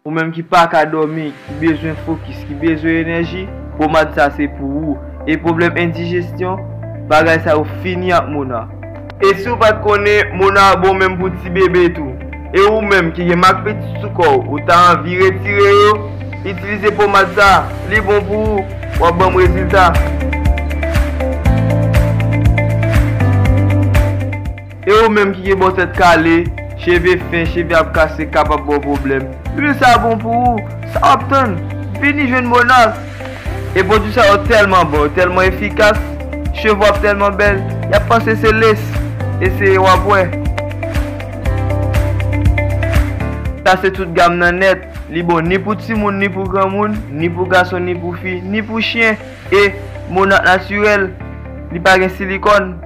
Ou menm ki paka dòmi, ki bezwen fokis, ki bezwen enèji, pomad sa se pou ou. E pwoblèm endijestyon, bagay sa yo fini ak Mona. E si ou pat konnen, Mona bon menm pou ti bebe tou. E ou menm ki gen mak pitit sou kòw, ou ta anvi retire yo, itilize pomad sa, li bon pou ou, wap banm rezilta. E ou menm ki gen bon tèt kale, cheve fen, cheve ap kase kapab ba w pwoblèm, lwil sa bon pou ou, sa wap tann, vini jwenn Monas! E pwodwi sa yo tèlman bon, yo tèlman efikas, cheve w ap tèlman bèl, y ap panse se les! Eseye w ap wè! Sa se tout gam nan nèt, li bon ni pou timoun ni pou granmoun, ni pou gason ni pou fi, ni pou chyen, e Monas natirèl, li pa gen silikòn.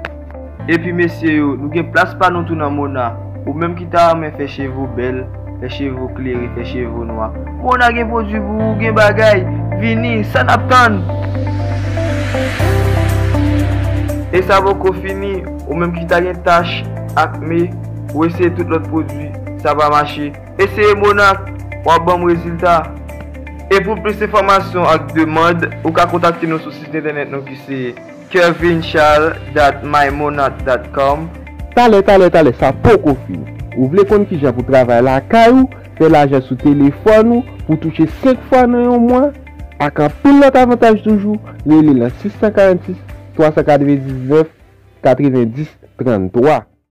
Epi mesye yo, nou gen plas pa nou tou nan Mona. Ou menm ki ta renmen fè cheve w bèl, fè cheve w klere, fè cheve w nwa. Mona gen pwodui pou ou, gen bagay! Vini, sa n ap tann? E sa poko fini, ou menm ki ta gen tach, akne, ou eseye tout lòt pwodui, sa pa mache. Eseye Mona, w ap ban m rezilta! E pou plis enfòmasyon ak demand, ou ka kontakte nou sou sit entènèt nou ki se. Kervincharles dat mymonat dat com. Talè talè talè sa poko fini. Ou vle konn kijan pou travay lakay ou, fè lajan sou telefòn ou, pou touche 5 fwa nan yon mwa, ak anpil lòt avantaj toujou, rele nan 646 399 90 33.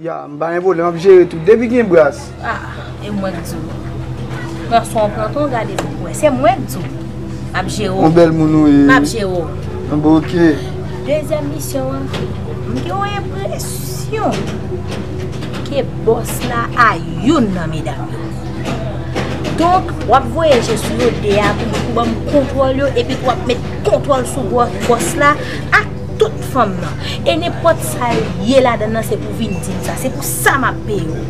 Ya m pa gen pwoblèm ap jere tout depi gen bras. Ah e mwen k diw. Pran swen w pran ton gade pou w wè se mwen k diw map jere w. On bèl moun ou ye. Map jere w. An bon ok. Dezyèm misyon an m gen yon enpresyon ke bòs la a youn nan medam yo. Donk wap voye je sou yo 2 a pou banm kontwòl yo epi pou wap met kontwòl sou bòs la ak. Tout fanm nan. E nen pot sa yo ye la dan nan se pou vin dim sa. Se pou sa ma peye yo.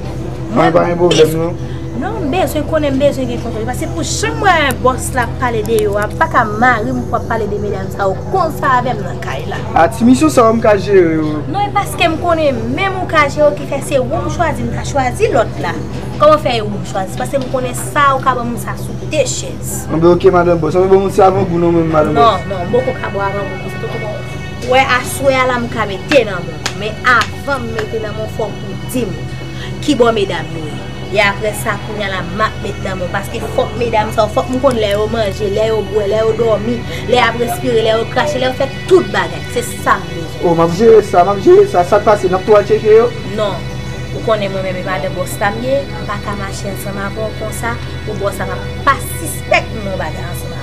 Mwen pa gen problem non. Non m bezwen konnen m bezwen gen kontrol. Pase pou jan m wè boss la ap pale de yo a m paka mari m pou ap pale de medam sa yo konsa avè m nan kay la. A ti misyon sa yo m ka jere yo. Non e paske m konnen menm ou ka jere yo ki fè se ou m chwazi m ta chwazi lòt la. Kòman fè e ou m chwazi? Pase m konnen sa ou ka ban moun sa sou 2 chèz. Anben ok madan boss. Anben bon m ti avangou non mwen madan boss. Non non m poko ka bo avangou. Wè aswè a la m ka mete nan men w men avan m mete nan men w fòk ou di m kibò medam yo ye e aprè sa kounya la m ap met nan men w paske fòk medam sa yo fòk m konn lè yo manje lè yo bwè lè yo dòmi lè y ap respire lè yo krache lè yo fè tout bagay se sa m bezwen. O m ap jere sa m ap jere sa sa k pase n ap tou al tcheke yo. Non ou konnen mwen menm e madan bòs la m ye m pa ka mache ansanm avè w konsa pou bòs la pa sispèk m gen yon bagay ansanm avè w.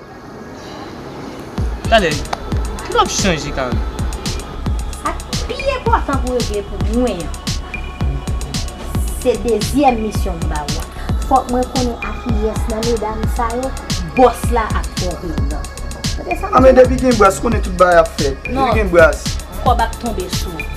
Talè, nou ap chanje kare. Sa k pi enpòtan pou regle pou mwen an, se dezyèm misyon m ba ou a. Fòk mwen konnen akiyès nan medam sa yo bòs la ap twonpe yo nan. Tande sa m di w la. A men depi gen bras, konnen tout bagay ap fèt. Depi gen bras. Non, kòb ap tonbe sou ou.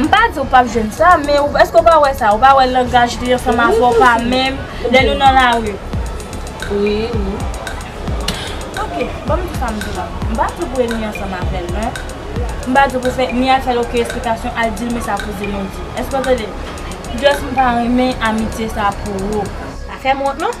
M pa di ou pap jwenn sa, men èske ou pa wè sa, ou pa wè langaj li an fanm avè ou pa menm lè nou nan lari. Wi, wi. Ok, ban m di sa m di la. M pa di ou pou enmi ansanm avè l non. M pa di ou pou fè ni al fè l oken esplikasyon, al di l men sa kouzen nou di. Èske w tande? Just m pa renmen amitye sa pou ou. Pa fè m wont non.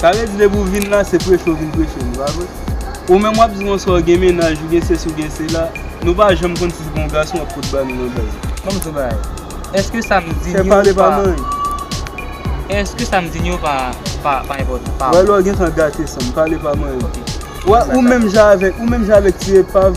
Sa vle di depi w vin la se preche w vin preche li pa vre? Ou menm wap di konsa w gen mennaj ou gen sesi w gen sela nou pa janm konn si se pa yon gason wap pot ba nou nan baz la. Banm di yon bagay eske sam di ni ou pa eske sam di ni ou pa pa enpòtan pa wè lè w gentan gate san pale pa manyen ok ou menm jan avèk ti epav.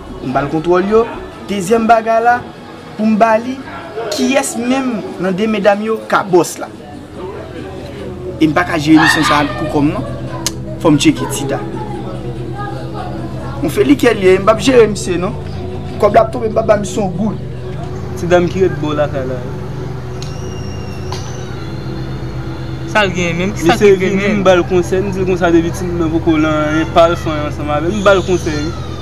M ba l kontwòl yo. Dezyèm bagay la, pou m ba li, kiyès menm nan de medam yo ka bòs la? E m pa ka jere misyon sa a pou kò m non. Fò m tcheke Tida. On feli kè l ye, m p ap jere misye non. Kòb la ap tonbe, m pa ba misye on goud. Ti dam ki ret bò lakay la yo. Sa l genyen menm? Ki sa ki genyen? Misye vini, m ba l konsèy. M di l konsa depi ti moun nan poko lan anyen, pa al fanyan ansanm avè l. M ba l konsèy wi.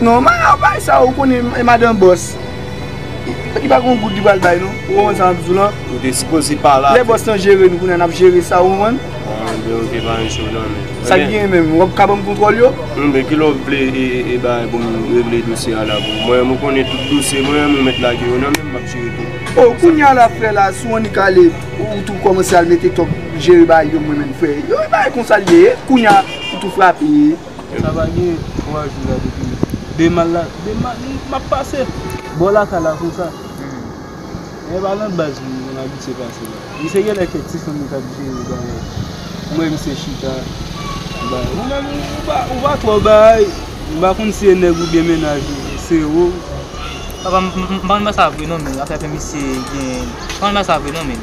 Non man an bay sa ou konnen e madan bòs Li pa gon goud li pral bay non ou konprann sa map diw lan Ou te sipoze pa la Lè bòs lan jere nou kounye an nap jere sa ou konprann An deyo te pa yon cho nan men Sak genyen menm wap ka banm kontwòl yo? Bon men kilè wap vle e bagay poum regle dosye a la pou mwen mwen konnen tout dosye mwen an men ou mèt lage yo nan menm map jere tout Oh kounye a la frè la sou annik ale ou tou kòmanse al mete tòg jere bagay yo mwen menm frè yo e bagay konsa li ye kounye a ou tou frape. Sa va gen 3 jou la depi demal la demal map pase bò lakay la konsa e pa nan baz mwen mwen abitye pase la misye genlè kèk ti fanm li tap jere bagay m wè misye chita ou menm ou pa twò bay m pa konn si e nèg oubyen mennaj ou se ou m pa konn sa vre non men afè misye gen m pa konn sa vre non men.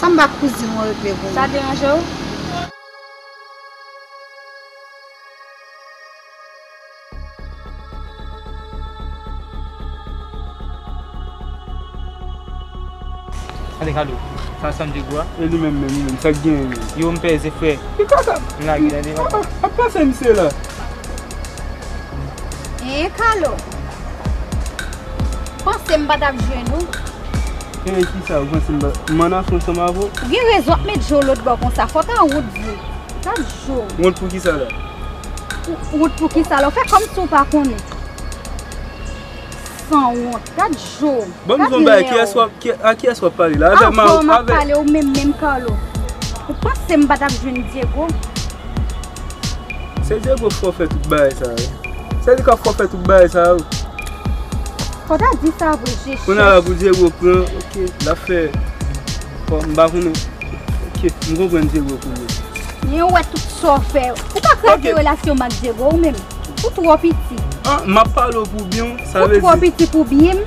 Samba kouzin mwen regle pou Sa deranje w? Gade Carlo sa san djego a E li menm menm li menm sa k genyen menm Yo m peze frè Ki kaka M lage la devan sa Ap pase misye la Eeh Carlo Panse m pa tap jwenn ou. Eee kisa ou panse m pa Man an fon sanm avè w? Ou gen rezon ap met je w lôt bò konsa fò w ta wont vre Gad je w. Wont pou kisa la? Wont pou kisa la ou fè kòmsi w pa konnen Sanwont Gad je w Bon m di w yon bagay kiyès w ap a kiyès w ap pale la avè Marou avè Avè Marou m ap pale ou menm menm Carlo Ou panse m pa t ap jwenn Diego Se Diego k fò fè tout bagay sa yo. Se li kap fò fè tout bagay sa yo. Fò ta di sa vre je chèf. Kounya la pou Diego pran ok lap fè fò m pa konnen ok m konprann Diego kounya. Men ou wè tout sa w fè. Ou pa kraze relasyon m ak Diego ou menm. Ou twò piti. An map pale w pou byen w sa vle di. Ou twò piti pou byen m.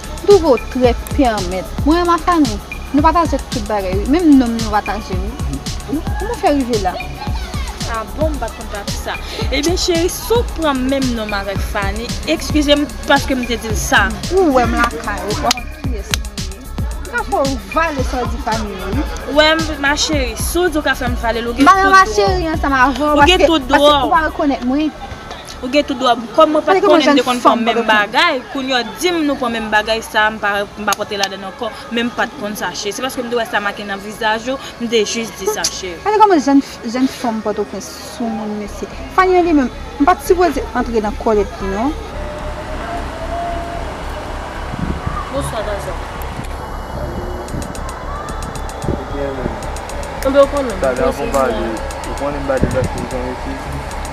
Douvo trèt pè an mèt. Mwen a ma fanmi Nou pataje tout bagay wi menm nom nou pataje wi Kouman ou fè rive la. Ah bon m pat konn pati sa. Ebyen cheri si w pran menm nom avèk Fani ekskize m paske m te di l sa. Ou wèm lakay ou pa konn kiyès mwen ye. Ou ka fè w vale sa w di Fani yo wi. Ou wèm ma cheri si w di w ka fè m vale l ou gen tout dwa w. M pa nan ma cheri ansanm avè w paske ou pa rekonèt mwen. Ou gen tout dwa pou kòm mwen pat konnen m te konn pran menm bagay kounye w dim nou pran menm bagay sa m pa konte ladann ankò men m pat konn sache se paske m te wè sa make nan vizaj ou m te jis di sache. Gade kòman jèn fanm pòtoprens soumoun mesye Fanie li menm m pat sipoze antre nan kòlèt li non. Bonswa Gason. Ou byen menm? Anben ou konnen m. Sa gen pou m pale ou konnen m pa deplase pou yon mesye.